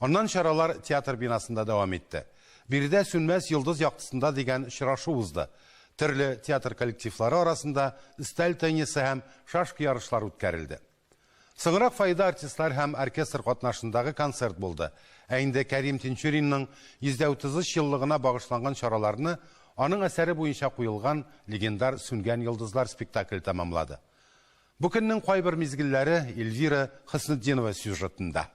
Аннан чаралар театр бинасында дәвам итте. Биредә Сүнмәс йолдыз яктысында дигән очрашу узды. Төрле театр коллективлары арасында өстәл теннисы һәм шашка ярышлары үткәрелде. Соңрак фойеда артистлар һәм оркестр катнашындагы концерт булды. Ә инде Кәрим Тинчуринның 133 еллыгына багышланган чараларны аның әсәре буенча куелган легендар Сүнгән йолдызлар спектакле тәмамлады. Бу көннең кайбер мизгелләре Эльвира Хөснетдинова сюжетында.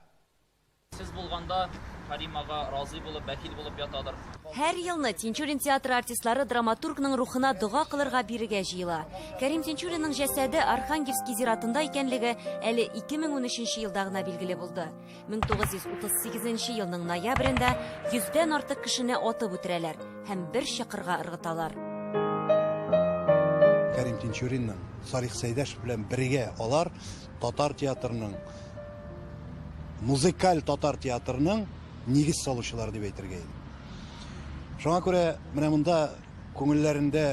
Сез булганда, Кәрим ага разый булып, бәхил булып ятадыр. Һәр елны Тинчурин театры артистлары драматургның рухына дога кылырга бирегә җыела. Кәрим Тинчуринның җәсәде Архангельский зиратында икәнлеге әле 2013 елда гына билгеле булды. 1938 елның ноябрендә йөздән артык кешене атып үтерәләр һәм бер чокырга ыргыталар. Кәрим Тинчуринның, Салих Сәйдәшев белән бергә алар татар театрының, музыкаль татар театрының нигез салучылары дип әйтергә иде. Шуңа күрә менә монда Күңелләрендә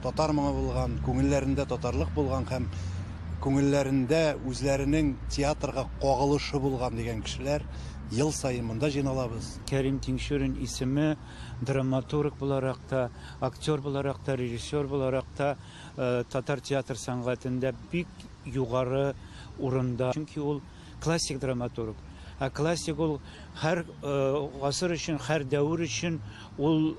татар моңы булган, күңелләрендә татарлык булган һәм күңелләрендә үзләренең театрга кагылышы булган дигән кешеләр ел саен монда җыйналабыз. Кәрим Тинчурин исеме драматург буларак та, актер буларак та, режиссер буларак та татар театр сәнгатендә бик югары урында. Чөнки ул Классик драматург. Ә классик ул һәр гасыр өчен, һәр дәвер өчен ул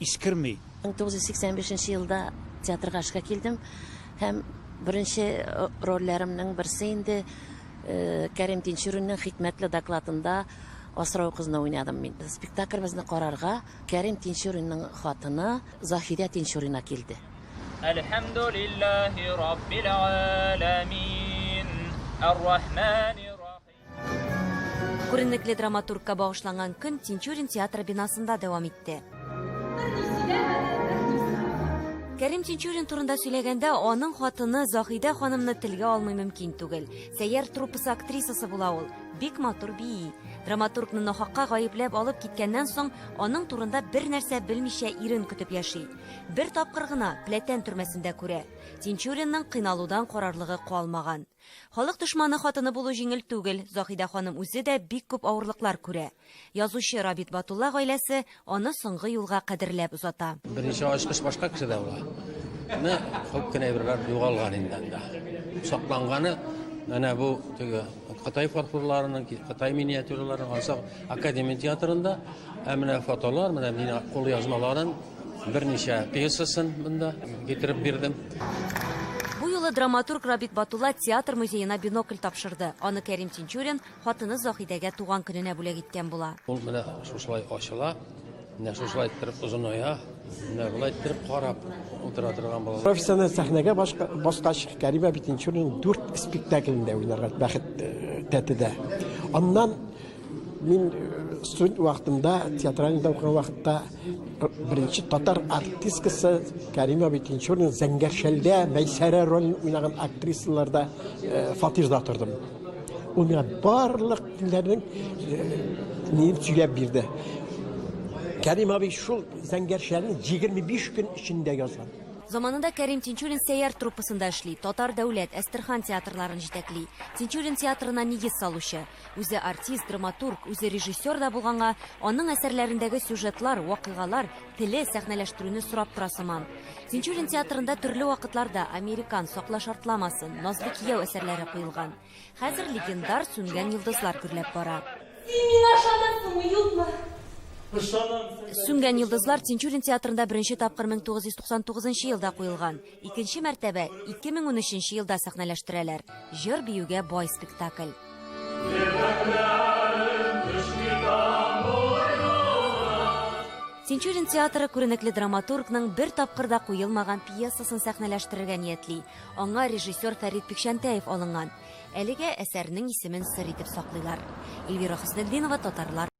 искерми. 1985 нче елда театрга эшкә килдем һәм беренче рольләремнең берсе инде Кәрим Тинчуринның Хикмәтле докладында асрау кызны уйнадым мин. Спектакльбезне карарга Кәрим Тинчуринның хатыны Заһидә Тинчурина килде. Әлхәмдүлилләһи раббил галәмин, ар-рахмани рахим. Күренекле драматургка багышланган көн Тинчурин театры бинасында дәвам итте. Кәрим Тинчурин турында сөйләгәндә, аның хатыны Заһидә ханымны телгә алмый мөмкин түгел. Сәйяр труппасы актрисасы була ул. Бик матур бии. Драматургны нахакка гаепләп алып киткәннән соң, аның турында бер нәрсә белмичә ирен көтеп яши. Бер тапкыр гына Пләтән төрмәсендә күрә. Тинчуринның кыйналудан карарлыгы калмаган. Халык дошманы хатыны булу җиңел түгел, Заһидә ханым үзе дә бик күп авырлыклар күрә. Язучы Рабит Батулла гаиләсе аны соңгы юлга кадерләп озата. Беренче ачкыч башка кешедә була. Менә күп кенә әйберләр югалган инде анда. Сакланганы менә бу теге Кытай фарфорларының, Кытай миниатюраларының ансак Академия театрында, ә менә фотолар, менә мин кул язмаларын берничә пьесасын монда китереп бирдем. Бу юлы драматург Рабит Батулла театр музеена бинокль тапшырды. Аны Кәрим Тинчурин хатыны Заһидәгә туган көненә бүләк иткән була. Ул менә шушылай ачыла, менә шушылай иттереп озыная, менә болай иттереп карап утыра торган була. Профессиональ сәхнәгә баскач, Кәримә Битинчурина дүрт спектаклендә уйнарга бәхет тәтеде. Аннан мин студент вакытымда, театральныйда укыган вакытта, Беренче татар артисткасы Кәримә Битинчурина Зәңгәршәлдә Мәйсәрә ролен уйнаган актрисаларда э, фатирда тордым. Ул миңа барлык көннәрнең э, сөйләп бирде. Кәрим абый шул Зәңгәршәлне 25 көн эчендә язган. Заманында Кәрим Тинчурин сәяр труппасында эшли, татар дәүләт, Әстерхан театрларын җитәкли. Тинчурин театрына нигез салучы. Үзе артист, драматург, үзе режиссер да булганга, аның әсәрләрендәге сюжетлар, вакыйгалар, теле, сәхнәләштерүне сорап тора сыман. Тинчурин театрында төрле вакытларда Американ, Сакла шартламасын, Назлы кияү әсәрләре куелган. Хәзер легендар Сүнгән йолдызлар гөрләп бара. Син миңа ышанасыңмы, юкмы? Ышанам. Сүнгән йолдызлар Тинчурин театрында беренче тапкыр 1999 елда куелган. Икенче мәртәбә 2013 елда сәхнәләштерәләр. Җыр-биюгә бай спектакль. Тинчурин театры күренекле драматургның бер тапкырда куелмаган пьесасын сәхнәләштерергә ниятли. Аңа режиссер Фәрит Пикчәнтәев алынган. Әлегә әсәрнең исемен сер итеп саклыйлар. Эльвира Хөснетдинова, татарлар.